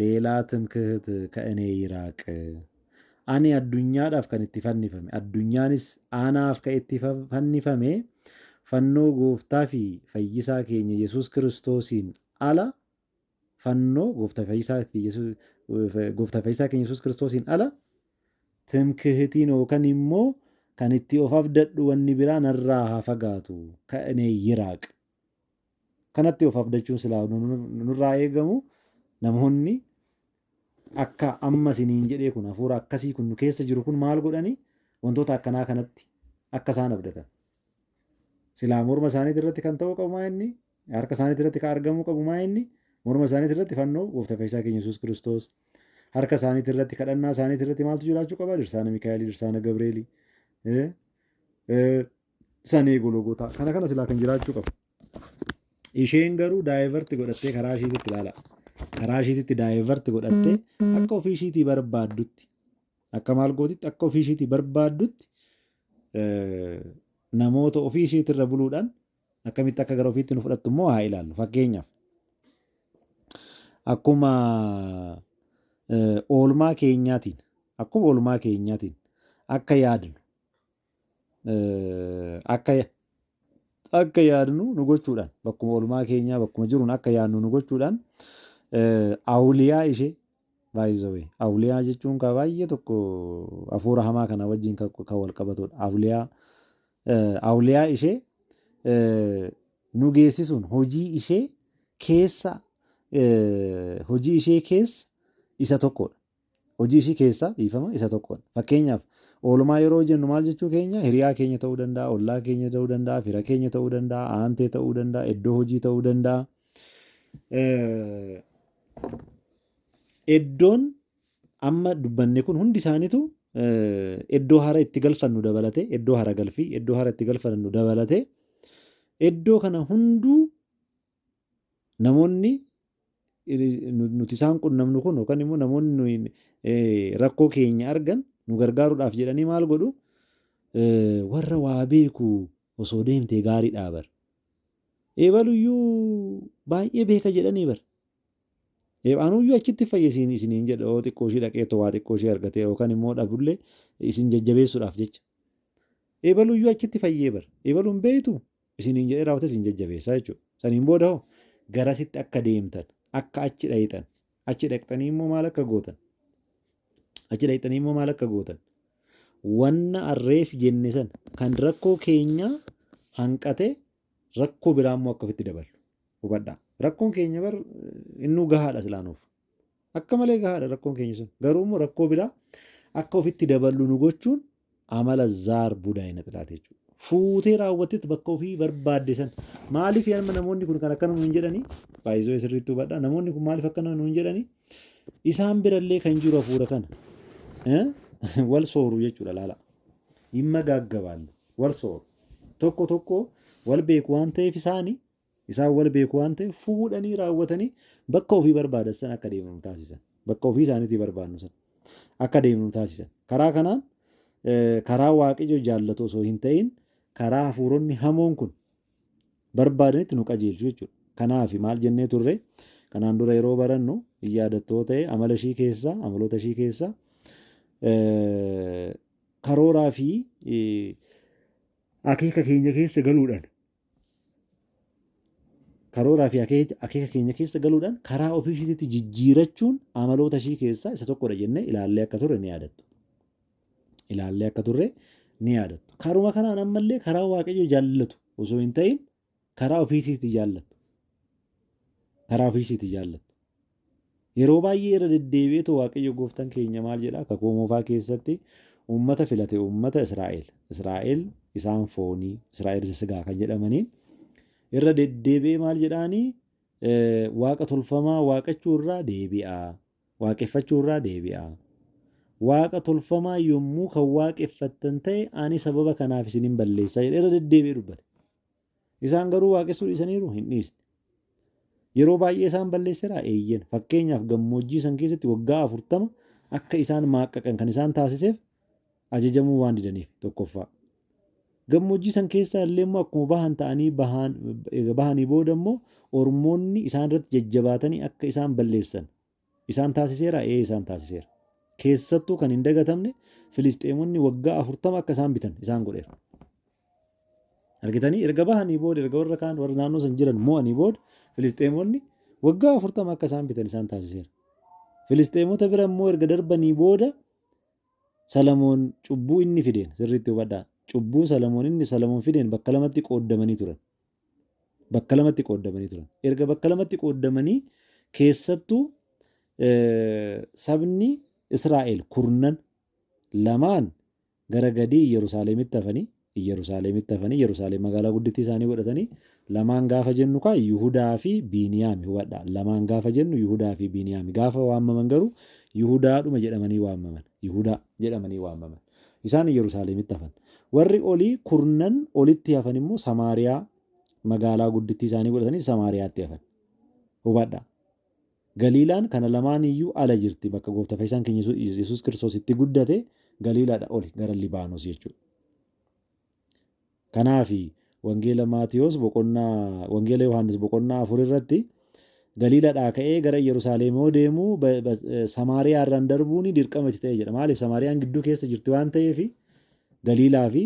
Leelaa Timkihit Ka'inee Yiraaq Ani addunyaadhaaf kan itti fannifame, addunyaanis anaaf ka itti fannifame fannoo gooftaa fi fayyisaa keenya Yesuus Kiristoosiin ala fannoo gooftaa fi fayyisaa keenya Yesuus Kiristoosiin ala timkihitiin yookaan immoo kan itti of abdadhu wanni biraa narraa haa fagaatu ka'inee yiraaq. Kanatti of abdachuun silaa nurraa eegamu namoonni akka amma isiniin jedhee kun hafuura akkasii kun nu keessa jiru kun maal godhanii wantoota akkanaa kanatti akka isaan abdatan. Silaa morma isaaniitii irratti kan ta'uu qabu maa inni harka isaaniitii irratti kan argamuu qabu maa inni morma isaaniitii irratti fannoo gooftaa fayyisaa keenya Yesuus Kiristoos harka isaaniitii irratti kadhannaa isaaniitii irratti maaltu jiraachuu qaba dirsaana Mikaa'elii dirsaana Gabreelii san eegu logotaa kana kana silaa kan jiraachuu qabu isheen garuu daayivarti godhattee karaa ishiititti ilaala karaa ishiititti daayivarti godhattee akka ofii ishiitii barbaaddutti akka maal gootitti akka ofii ishiitii barbaaddutti eh, namoota ofii ishiitirra buluudhaan akkamitti akka gara ofiitti nu fudhattu immoo haa ilaallu fakkeenyaaf akkuma eh, oolmaa keenyaatiin akkuma oolmaa keenyaatiin akka yaadnu akka akka yaadnu nu gochuudhaan bakkuma olmaa keenyaa bakkuma jiruun akka yaadnu nu gochuudhaan awuliyaa ishee baay'isawee awuliyaa jechuun kaa baay'ee tokko hafuura hamaa kana wajjin kan wal qabatudha awuliyaa awuliyaa ishee nu geessisuun hojii ishee keessa hojii ishee keessa isa tokkodha. hojii ishii keessaa dhiifama isa tokkoodha. Fakkeenyaaf, oolmaa yeroo hojjennu maal jechuu keenya? Hiriyaa keenya ta'uu danda'a, ollaa keenya ta'uu danda'a, fira keenya ta'uu danda'a, aantee ta'uu danda'a, iddoo hojii ta'uu danda'a. Iddoon amma dubbanne kun hundi isaaniitu iddoo hara itti galfannu dabalatee, iddoo hara galfii, iddoo hara itti galfannu dabalatee, iddoo kana hunduu Namoonni nuti isaan qunnamnu kun yookaan immoo namoonni nuyi rakkoo keenya argan nu gargaaruudhaaf jedhanii maal godhu warra waa beeku osoo deemtee gaariidhaa bar. Eebaluyyuu baay'ee beeka jedhanii bar. Eebaanuyyuu achitti fayyisiin isiniin jedha yoo xiqqoo ishii dhaqee too waa xiqqoo ishii argatee yookaan immoo dhabullee isin jajjabeessuudhaaf jecha. Eebaluyyuu achitti fayyee bar. Eebaluun beeytu isiniin jedhee raawwatee isin jajjabeessa jechuudha. Saniin booda hoo garasitti akka deemtan, akka achi dhayitan, achi dhaqxanii immoo maal akka gootan? Achi dhaqxanii immoo maal akka gootan? Wanna arreef jenne san kan rakkoo keenyaa hanqatee rakkoo biraa immoo akka ofitti daballu hubadhaa. Rakkoon keenya bar innuu gahaadha silaanuuf. Akka malee gahaadha rakkoon keenya sun. Garuu immoo rakkoo biraa akka ofitti daballu nu gochuun amala zaar budaa hin xilaate jechuudha. Fuutee raawwattetti bakka ofii barbaadde san maaliif amma namoonni kun kan akkana nuun jedhanii baay'isoo sirriitti hubadha namoonni kun maaliif akkana nuun jedhanii isaan birallee kan jiru hafuura kana eh, wal sooru jechuudha laala. Dhimma gaaggabaalle wal sooru tokko tokko wal beeku waan ta'eef isaanii Isaan wal beeku waan ta'eef fuudhanii raawwatanii bakka ofii barbaadan sana akka deemnu taasisan. Bakka ofii isaaniitii barbaadnu sana akka deemnu taasisan. Karaa kanaan karaa waaqayyo jaallatu osoo hin ta'in karaa hafuuronni hamoon kun barbaadanitti nu qajeelchu jechuudha. Kanaaf maal jennee turre kanaan dura yeroo barannu hin yaadattoo ta'e amala ishii keessaa amaloota ishii keessaa karooraa fi akeeka keenya keessa galuudhaan karooraa fi akeeka keenya keessa galuudhaan karaa ofii ishiitti jijjiirachuun amaloota ishii keessaa isa tokkodha jennee ilaallee akka turre ni yaadattu. Ilaallee akka turre ni yaadattu. Karuma kanaan ammallee karaa waaqayyo jaallatu osoo hin ta'in karaa ofii ishiitti jaallatu. Karaa ofii ishiitti jaallatu. Yeroo baay'ee irra deddeebi'eetoo Waaqayyo gooftan keenya maal jedhaa kakuu moofaa keessatti uummata filate uummata Israa'el Israa'el isaan foonii Israa'el isa sigaa kan jedhamaniin irra deddeebi'ee maal jedhaanii waaqa tolfamaa waaqachuu irraa deebi'aa waaqeffachuu irraa deebi'aa waaqa tolfamaa yommuu kan waaqeffattan ta'e ani sababa kanaaf isin hin balleessaa jedhe irra deddeebi'ee dubbate. Isaan garuu waaqessuu dhiisaniiru? Hin dhiisne. Yeroo baay'ee isaan balleesseraa? Eeyyen. Fakkeenyaaf gammoojjii san keessatti waggaa afurtama akka isaan maaqqaqan kan isaan taasiseef ajajamuu waan didaniif tokkoffaa. Gammoojjii san keessaa illee immoo akkuma bahan ta'anii bahan, eega bahanii booda immoo ormoonni isaan irratti jajjabaatanii akka isaan balleessan isaan taasiseeraa? Ee isaan taasiseera. Keessattuu kan hin dagatamne Filisxeemonni waggaa afurtama akka isaan bitan isaan godheera. Argitanii erga bahanii booda erga warra kaan warra naannoo san jiran mo'anii booda Filisxeemonni waggaa afurtama akka isaan bitan isaan taasiseera. Filisxeemota bira immoo erga darbanii booda Salamoon cubbuu inni fideen sirriitti hubadhaa. Cubbuu Salamoon inni Salamoon fideen bakka lamatti qooddamanii turan. bakka lamatti qooddamanii turan. Erga bakka lamatti qooddamanii keessattuu sabni Israa'el kurnan lamaan gara gadii Iyyerusaalemitti hafanii Iyyerusaalemitti hafanii Iyyerusaalem magaalaa guddittii isaanii godhatanii lamaan gaafa jennu kaa Yihudaa fi Biiniyaami hubadha. Lamaan gaafa jennu Yihudaa fi Biiniyaami gaafa waamaman garuu Yihudaadhuma jedhamanii waamaman. Yihudaa jedhamanii waamaman. Isaan Iyyerusaaleemitti hafan. Warri olii kurnan olitti hafan immoo Samaariyaa magaalaa guddittii isaanii godhatanii Samaariyaatti hafan. Hubadhaa. Galiilaan kana lamaan iyyuu ala jirti bakka goofta fayyisaan keenya Yesuus Kiristoos itti guddate Galiilaadha oli gara Libaanos jechuudha. Kanaafi, Wangeela Maatiwos boqonnaa Wangeela Yohaannis boqonnaa 4 irratti Galiiladhaa ka'ee gara Iyyarusaaleem yoo deemu Samaariyaa irraan darbuun dirqama itti ta'e jedha. Maaliif Samaariyaan gidduu keessa jirti waan ta'eef Galiilaa fi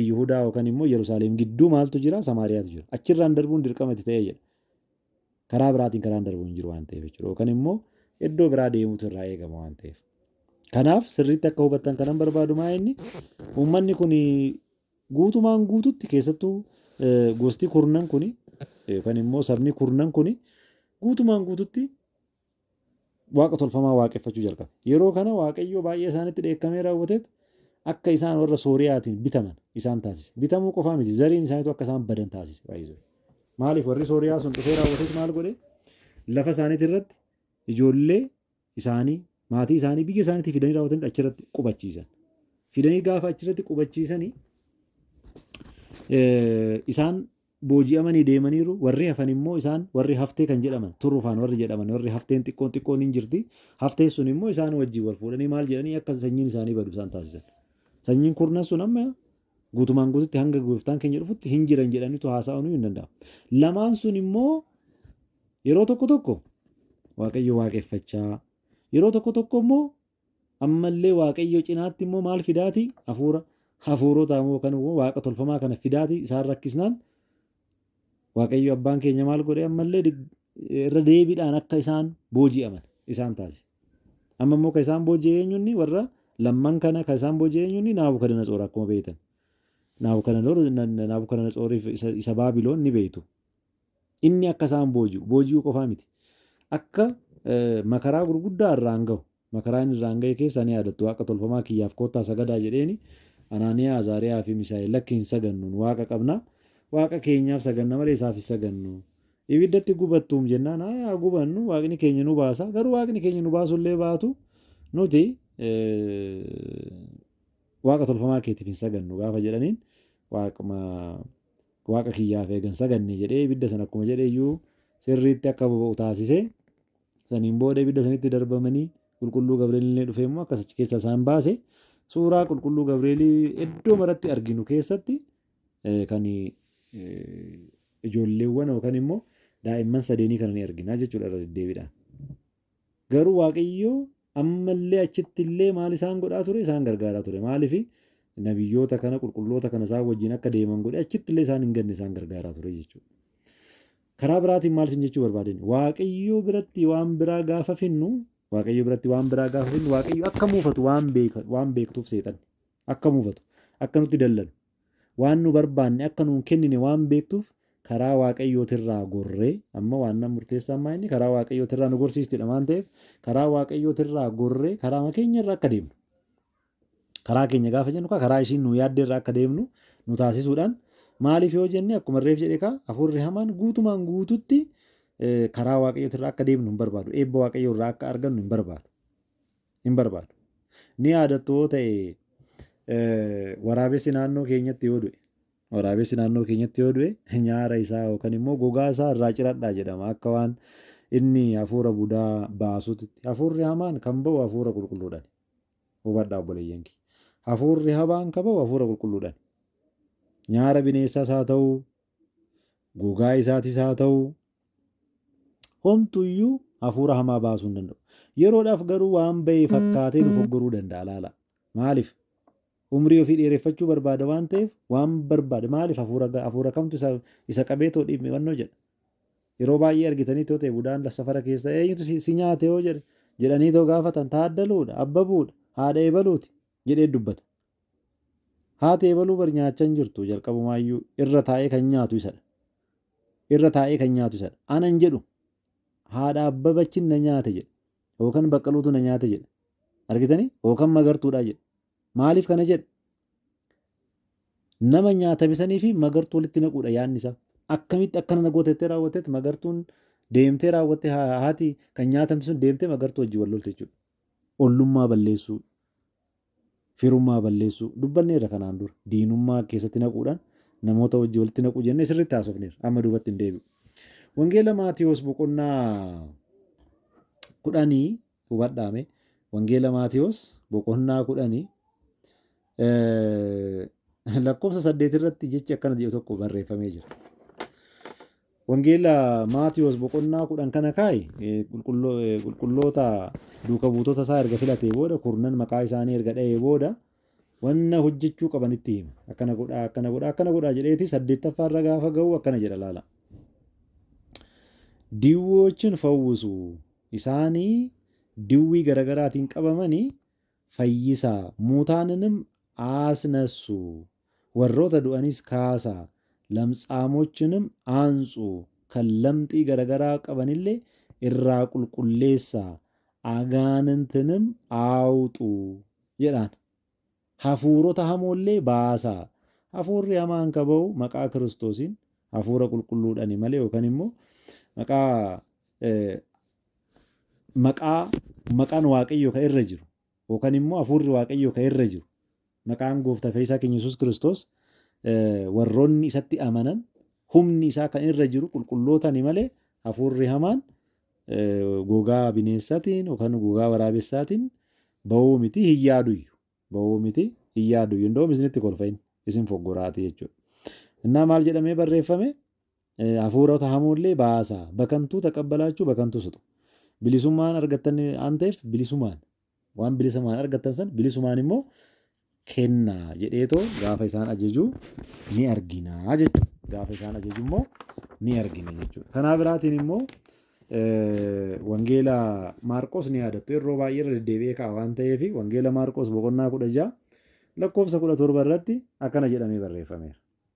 Yihudaa yookaan immoo Iyyarusaaleem gidduu maaltu jira? Samaariyaatu jira. Achirraan darbuun dirqama itti ta'e jedha. Karaa biraatiin karaan darbu hin jiru waan ta'eef jechuudha. Yookaan immoo iddoo biraa deemuutu irraa eegama waan ta'eef. Kanaaf sirriitti akka hubattan kanan barbaadu maa inni uummanni kun guutumaan guututti keessattuu eh, gosti kurnan kun yookaan immoo sabni kurnan kun guutumaan guututti waaqa tolfamaa waaqeffachuu jalqabe. Yeroo kana Waaqayyo baay'ee isaanitti dheekkamee raawwateet akka isaan warra Sooriyaatiin bitaman isaan taasise. Bitamuu qofaa miti zariin isaaniitu akka isaan badan taasise. Maaliif warri Sooriyaa sun dhufee raawwateet maal godhe? Lafa isaaniitii irratti ijoollee isaanii maatii isaanii biyya isaaniitii fidanii raawwatanii achirratti qubachiisan. Fidanii gaafa achirratti qubachiisanii isaan booji'amanii deemaniiru, warri hafan immoo isaan warri haftee kan jedhaman, turrufaan warri jedhaman, warri hafteen xiqqoon xiqqoon in jirti, hafteen sun immoo isaan wajjin wal fuudhanii maal jedhanii akka sanyiin isaanii badu isaan taasisan. Sanyiin kurnan sun amma guutumaan guututti hanga gooftaan keenya dhufutti hin jiran jedhanitu haasa'uun hin danda'amu. Lamaan sun immoo yeroo tokko tokko waaqayyo waaqeffachaa, yeroo tokko tokko immoo Ammallee Waaqayyoo cinaatti immoo maal fidaati? Hafuura hafuurotaa immoo kan waaqa tolfamaa kana fidaati isaan rakkisnaan Waaqayyo abbaan keenya maal godhe ammallee irra deebiidhaan akka isaan booji'aman isaan taasise. Amma immoo kan isaan booji'e eenyunni warra lamman kana kan isaan booji'e eenyunni Naabukadanatsor akkuma beektan. Naabukadanatsoriif isa Baabiloon ni beektu. Inni akka isaan booji'u, booji'uu qofaa miti, akka makaraa gurguddaa irraan gahu, makaraa inni irraan gahe keessaa ni yaadattu, waaqa tolfamaa kiyyaaf koottaa sagadaa jedheeni, Anaaniyaa, Azaariyaa fi Misaa'el, lakki hin sagannu, nu waaqa qabna, waaqa keenyaaf saganna malee isaaf hin sagannu. Ibiddatti gubattuum jennaan, haa haa gubannu, waaqni keenya nu baasa, garuu waaqni keenya nu baasuu illee baatu, nuti waaqa tolfamaa keetiif hin sagannu gaafa jedhaniin waaquma Waaqa kiyyaaf eega hin sagadne jedhee ibidda sana akkuma jedhe iyyuu sirriitti akka boba'u taasise. Saniin booda ibidda sanitti darbamanii qulqulluu Gabri'eel illee dhufee immoo akkas achi keessa isaan baase. Suuraa qulqulluu Gabri'eelii iddoo maratti arginu keessatti kan ijoolleewwan yookaan immoo daa'imman sadeenii kana ni argina jechuudha irra deddeebiidhaan. Garuu Waaqayyo amma illee achitti illee maal isaan godhaa ture? Isaan gargaaraa ture. Maaliif? Nabiyyoota kana, qulqulloota kana isaan wajjin akka deeman godhe achitti illee isaan hin ganne isaan gargaaraa ture jechuudha. Karaa biraatiin maal isin jechuu barbaadeen? Waaqayyo biratti waan biraa gaafa finnu, Waaqayyo biratti waan biraa gaafa finnu, Waaqayyo akka muufatu waan beeka, waan beektuuf seexanni. Akka mufatu, akka nutti dallanu, waan nu barbaanne akka nu hin kennine waan beektuuf karaa Waaqayyootirraa gorree, amma waannan murteessaan maa inni karaa Waaqayyootirraa nu gorsiistidha waan ta'eef karaa Waaqayyootirraa gorree karaama keenyarra akka deemnu. Karaa keenya gaafa jennu kaa karaa ishiin nu yaadderra akka deemnu nu taasisuudhaan maaliif yoo jenne akkuma reef jedhe kaa hafuurri hamaan guutumaan guututti karaa Waaqayyootirraa akka deemnu hin barbaadu. Eebba Waaqayyoorraa akka argannu hin barbaadu. hin barbaadu. Ni yaadattu yoo ta'e waraabessi naannoo keenyatti yoo du'e waraabessi naannoo keenyatti yoo du'e nyaara isaa yookaan immoo gogaa isaa irraa ciradhaa jedhama akka waan inni hafuura budaa baasutti hafuurri hamaan kan ba'u hafuura qulqulluudhaan hubadhaa obboleeyyan kee hafuurri habaan kan ba'u hafuura qulqulluudhaan nyaara bineessaas haa ta'u gogaa isaatis haa ta'u Homtu iyyuu hafuura hamaa baasuu hin danda'u. Yeroodhaaf garuu waan ba'e fakkaatee nu foggoruu danda'a laala. Maaliif? Umrii ofii dheereffachuu barbaada waan ta'eef waan barbaade maaliif hafuura ga- hafuura kamtu isa, isa qabee too dhiibbannoo jedha. Yeroo baay'ee argitanii too ta'e budaan laf safara keessa eenyutu si, si nyaate yoo jedhe jedhanii too gaafatan taaddaluudha, abbabuudha, haadha ebaluuti. jedhee dubbata. Haati ebaluu bar nyaachaa hin jirtu jalqabumaayyuu irra taa'ee kan nyaatu isadha. Irra taa'ee kan nyaatu isadha. Ana hin jedhu. Haadha Abbabachin na nyaate jedha. Yookan Baqqaluutu na nyaate jedha. Argitanii? Yookan Magartuudhaa jedha. Maaliif kana jedha? Nama nyaatame sanii fi magartuu walitti naquudha yaadni isaa. Akkamitti akkana na gootettee raawwattetti magartuun deemtee raawwattee haati kan nyaatamte sun deemtee magartuu wajjin wal lolte jechuudha. Ollummaa balleessuu, firummaa balleessuu dubbanneerra kanaan dura. Diinummaa keessatti naquudhaan namoota wajji walitti naquu jennee sirriitti haasofneerra. Amma duubatti hin deebi'u. Wangeela Maatiyoos boqonnaa kudhanii hubadhaame. Wangeela Maatiyoos boqonnaa kudhanii lakkoofsa saddeet irratti jechi akkana jedhu tokko barreeffamee jira. Wangeela Maatiwoos boqonnaa 10 kana kaa'i, qulqulloota duuka buutota isaa erga filatee booda, kurnan maqaa isaanii erga dha'ee booda, wanna hojjechuu qaban itti hima. Akkana godhaa, akkana godhaa, akkana godhaa jedheeti saddeettaffaa irra gaafa ga'u akkana jedha laala. Diwwoochin fawwisu, isaanii diwwii garagaraatiin qabamanii fayyisaa, muutaaninim aasnassu Warroota du'anis kaasaa, lamtsaamochinim aansu, kan lamxii garagaraa qabanille irraa qulqulleessaa, agaaninttinim aawxu jedhaan. Hafuurota hamoollee baasaa. Hafuurri hamaan ka ba'u maqaa Kiristoosiin, Hafuura Qulqulluudhani malee yookan immoo maqaa maqaa maqaan Waaqayyoo ka irra jiru, yookan immoo Hafuurri Waaqayyoo ka irra jiru, maqaan Gooftaa Fayyisaa keenya Yesuus Kiristoos warroonni isatti amanan humni isaa kan irra jiru qulqullootani malee hafuurri hamaan gogaa bineessatiin yookaan gogaa waraabessaatiin ba'uu miti hin yaaduyyu. Ba'uu miti hin yaaduyyu. Indoom isinitti kolfa inni isin foggoraatii jechuudha. Innaa maal jedhamee barreeffame? Hafuurota hamoollee baasa. Bakantuu taqabbalaachuu bakantuu suxu. Bilisummaan argattan waan ta'eef bilisumaan waan bilisamaan argattan san bilisumaan immoo kenna jedheetoo gaafa isaan ajajuu ni argina jechuudha. Gaafa isaan ajaju immoo ni argina jechuudha. Kanaa biraatiin immoo wangeela Maarqos ni yaadattu yeroo baay'ee irra deddeebi'ee ka'a waan ta'eef wangeela Maarqos boqonnaa kudha ja'a lakkoofsa kudha torba irratti akkana jedhamee barreeffameera.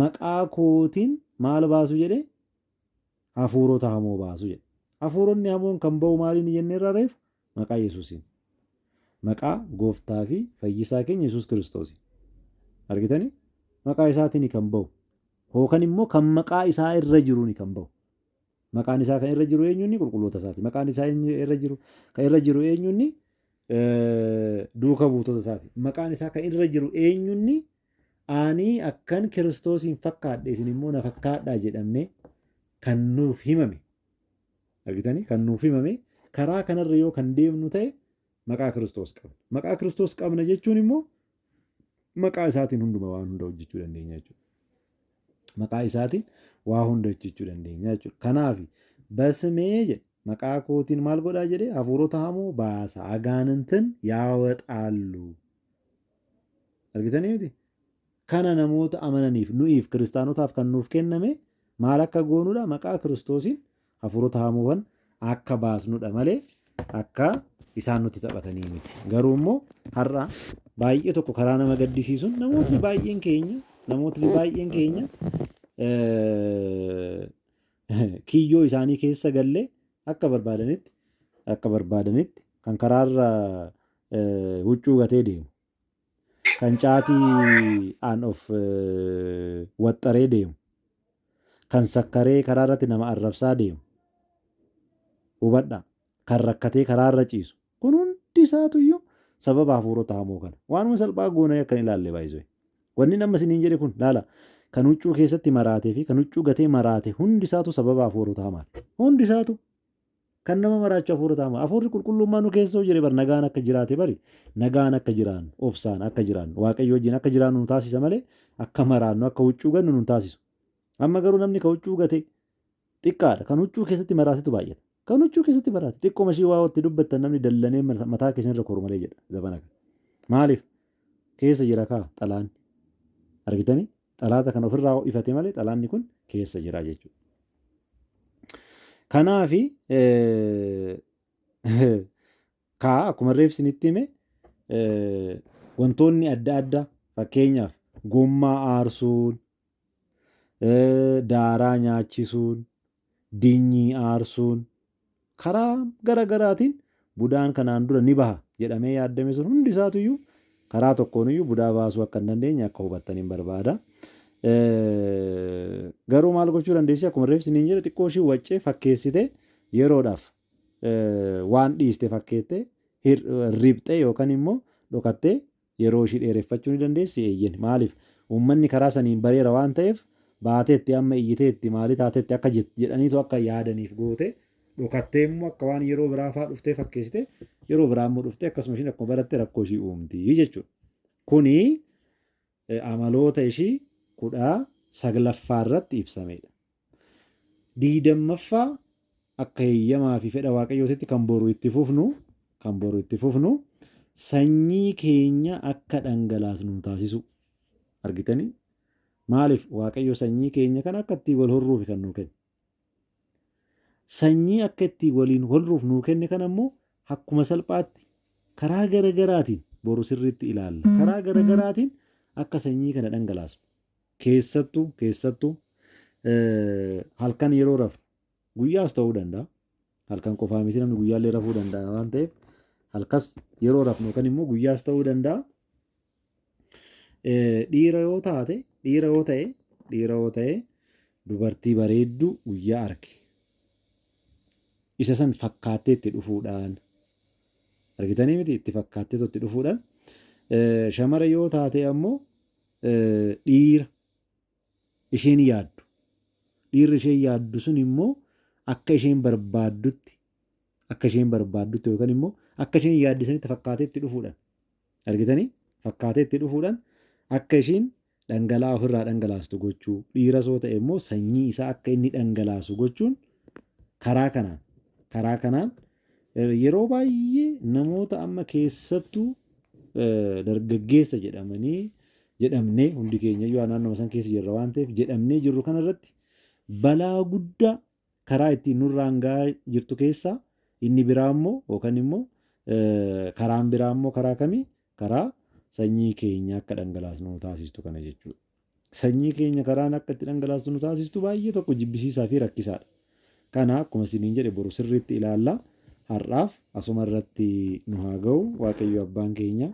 Maqaa kootiin maal baasu jedhe? Hafuurota hamoo baasu jedhe. Hafuuronni hamoon kan ba'u maaliini jenneerra reefu? Maqaa Yesuusiin. Maqaa gooftaa fi fayyisaa keenya Yesuus Kiristoosiin. Argitanii? Maqaa isaatini kan ba'u. Hookan immoo kan maqaa isaa irra jiruuni kan ba'u. Maqaan isaa kan irra jiru eenyuunni qulqulloota isaati. Maqaan isaa eenyu irra jiru kan irra jiru eenyuunni duuka buutota isaati. Maqaan isaa kan irra jiru eenyuunni Ani akkan Kiristoosiin fakkaadhe isin immoo na fakkaadhaa jedhamne kan nuuf himame. Argitanii? Kan nuuf himame karaa kanarra yoo kan deemnu ta'e maqaa Kiristoos qabna. Maqaa Kiristoos qabna jechuun immoo maqaa isaatiin hunduma waan hunda hojjechuu dandeenya jechuudha. Maqaa isaatiin waa hunda hojjechuu dandeenya jechuudha. Kanaaf basmee jedhe maqaa kootiin maal godhaa jedhe hafuurota hamoo baasa agaanantin yaawexaallu. Argitanii miti? Kana namoota amananiif, nu'iif, kiristaanotaaf kan nuuf kenname maal akka goonudha? Maqaa Kiristoosiin hafuurota hamoowwan akka baasnudha malee akka isaan nutti taphatanii miti. Garuu immoo har'a baay'ee tokko karaa nama gaddisiisuun namootni baay'een keenya namootni baay'een keenya kiyyoo isaanii keessa gallee akka barbaadanitti akka barbaadanitti kan karaarra eh, huccuu gatee deemu, kan caatii aan of eh, waxxaree deemu, kan sakkaree karaa irratti nama arrabsaa deemu, hubadha, kan rakkatee karaa irra ciisu. Kun hundi isaatuyyuu sababa hafuurota hamoo kana. Waanuma salphaa goonee akkan ilaalle baay'isee. Wanni nama isiniin jedhe kun laala. Kan huccuu keessatti maraatee fi kan huccuu gatee maraate hundi isaatu sababa hafuurota hamaati. Hundi isaatu Kan nama maraachu hafuura taama. Hafuurri qulqulluun maa nu keessa yoo jire bar nagaan akka jiraate bari nagaan akka jiraannu obsaan akka jiraannu waaqayyo wajjin akka jiraannu nu taasisa malee akka maraannu akka huccuu gannu nun taasisu. Amma garuu namni ka huccuu gate xiqqaadha kan huccuu keessatti maraatetu baay'ata. Kan huccuu keessatti maraate xiqqoo mashii waa itti dubbattan namni dallanee mataa keessan irra koru malee jedha zabana kana. Maaliif keessa jira kaa xalaanni argitanii Xalaata kana ofirraa ho'ifate malee xalaanni kun keessa jira jechuudha. Kanaaf kaa akkuma reefsi nitti hime wantoonni adda addaa fakkeenyaaf gommaa aarsuun, daaraa nyaachisuun, dinyii aarsuun karaa gara garaatiin budaan kanaan dura ni baha jedhamee yaaddame sun hundi isaatu iyyuu karaa tokkoon iyyuu budaa baasuu akka hin dandeenye akka hubattaniin barbaada. Garuu maal gochuu dandeessi akkuma reef siniin jedhe xiqqoo ishii waccee fakkeessite yeroodhaaf waan dhiiste fakkeette riphxee yookaan immoo dhokattee Yeroo ishii dheereffachuu ni dandeessi? Eeyyen. Maaliif? Uummanni karaa saniin bareera waan ta'eef, baateetti, amma iyyiteetti, maali taateetti akka jett jedhaniitu akka yaadaniif goote, dhokattee immoo akka waan yeroo biraa faa dhuftee fakkeessite, yeroo biraa immoo dhuftee akkasuma ishiin akkuma baratte rakkoo ishii uumti jechuudha. Kuni amaloota ishii kudha saglaffaa irratti ibsameedha. 20ffaa akka heyyamaa fi fedha Waaqayyootitti kan boru itti fufnu kan boru itti fufnu sanyii keenya akka dhangalaasnu nu taasisuu. Argitanii? Maaliif Waaqayyo sanyii keenya kan akka ittiin wal horruuf kan nuu kenne. Sanyii akka ittiin waliin horruuf nuu kenne kan ammoo akkuma salphaatti karaa gara garaatiin boru sirriitti ilaalla. Karaa gara garaatiin akka sanyii kana dhangalaasnu. Keessattu, keessattu, halkan yeroo rafnu, guyyaas ta'uu danda'a. Halkan qofaa miti namni guyyaallee rafuu danda'a waan ta'eef halkas yeroo rafnu yookaan immoo guyyaas ta'uu danda'a. Dhiira yoo taate, dhiira yoo ta'e, dhiira yoo ta'e dubartii bareedduu guyyaa arge. Isa san fakkaattee itti dhufuudhaan argitanii miti itti fakkaattee itti dhufuudhaan shamara yoo taate ammoo dhiira isheen yaaddu, dhiirri isheen yaaddu sun immoo akka isheen barbaaddutti, akka isheen barbaaddutti yookaan immoo akka isheen yaadde sanitti fakkaatee itti dhufuudhaan, argitanii? Fakkaatee itti dhufuudhaan akka ishiin dhangala'aa ofirraa dhangalaastu gochuu, dhiiras yoo ta'e immoo sanyii isaa akka inni dhangalaasu gochuun karaa kanaan, karaa kanaan Yeroo baay'ee namoota amma keessattuu dargaggeessa jedhamanii jedhamnee hundi keenyayyuu naannoo san keessa jirra waan ta'eef jedhamnee jirru kanarratti balaa guddaa karaa ittiin nurraan gahaa jirtu keessaa inni biraa immoo yookaan immoo karaan biraa immoo karaa kamii karaa sanyii keenya akka dhangalaasnu taasistu kana jechuudha. Sanyii keenya karaan akka itti dhangalaastu nu taasistu baay'ee tokko jibbisiisaa fi rakkisaadha. Kana akkuma isiniin jedhe boru sirriitti ilaalla. Har'aaf asuma irratti nu haa ga'u. Waaqayyo abbaan keenya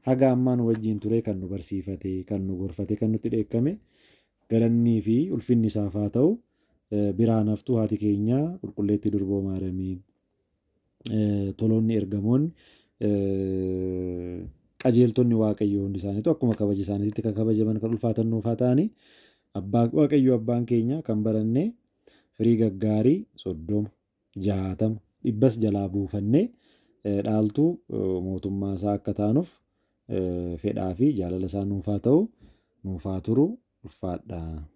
haga ammaa nu wajjin turee kan nu barsiifate, kan nu gorfate, kan nutti dheekkame galannii fi ulfinni isaaf haa ta'u. Biraan haftuu haati keenya qulqulleettii durboo Maaramiin. toloonni, ergamoonni, qajeeltonni Waaqayyoo hundi isaaniitu akkuma kabaja isaaniitti kan kabajaman kan ulfaatan nuuf haa ta'anii. Abbaa Waaqayyoo abbaan keenya kan barannee firii gaggaarii soddoma, jaatama, dhibbas jalaa buufannee dhaaltuu mootummaa isaa akka taanuuf fedhaa fi jaalala isaa nuuf haa ta'u, nuuf haa turu, ulfaadhaa.